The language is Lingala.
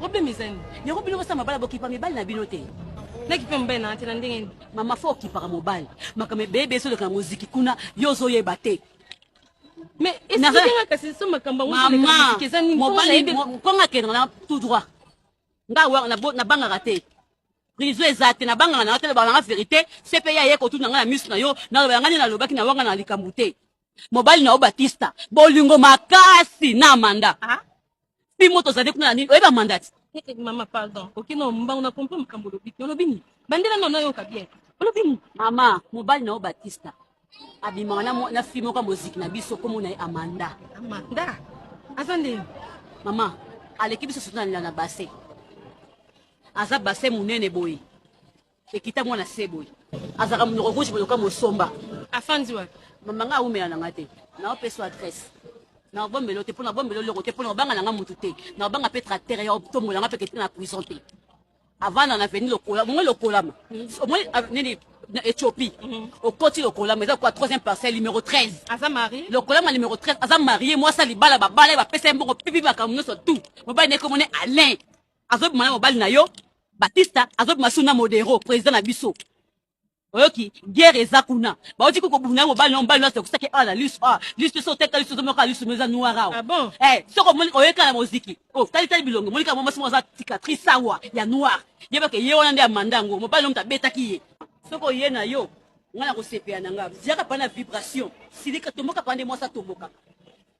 problème eza nini yango bino bosala mabala bokipa mibali na bino te nakipe mobali na te na ndenge nini mama fo okipaka mobali makambo ebeye beye soleka na moziki kuna yo ozoyeba te mais esikanga kasi so makambo yangoeza nini konga akendaka na tout droit nga nabangaka te prison eza te nabangaka na yo te loba nanga verité cpe ya ye kotuna ngai na miso na yo naloba yanga nde nalobaki na wanga na likambo te mobali na yo batista bolingo makasi na manda ah? bimo tozali kuna na nini oyeba mandati eh, eh, mama pardon okino mbango na comprendre makambo olobi te olobi nini bandela nano nayoka bien olobi nini mama mobali na yo batista abimaka na, na fille moko ya moziki na biso komona ye amanda amanda aza nde mama aleki biso soto na base aza base monene boye Ekita mwana se boye. Azalaka munoko rouge boye lokola mosomba. Afandi wapi? Mama nga awumela na nga te. Nao peso adresse. Nao bombelo te pona bombelo loko te pona obanga na nga mutu te. Nao banga pe tracteur ya otombola nga pe kete na prison te. Avanda na veni lokola, mwe lokola ma. Mwe nini na Ethiopie. Okoti lokola ma eza kwa troisième parcelle numéro 13. Aza mari? Lokola ma numéro 13 aza marié mwasa libala babala ye bapesa ye mbongo pipi makambo nyonso tout. Mobali na ye kombo ne Alain. azobima na mobali na yo batista azobima su na modero président na biso oyoki guerre eza kuna bauti ko kobunda mobali na mobali nyonso ekosaki awa na lisu awa lisu te so oteka lisu ozomoka lisu mo eza noir awa ah bon? eh, soki omoni oyeka na moziki o oh, talitali bilongo monika mwa mwasi moko aza cicatrice awa ya noir yebaka ye wana nde amanda yango mobali na moto abetaki ye soki oye na yo ngai nakosepela na ngai ziaka pana vibration silika tomboka pana nde mwasi atombokaka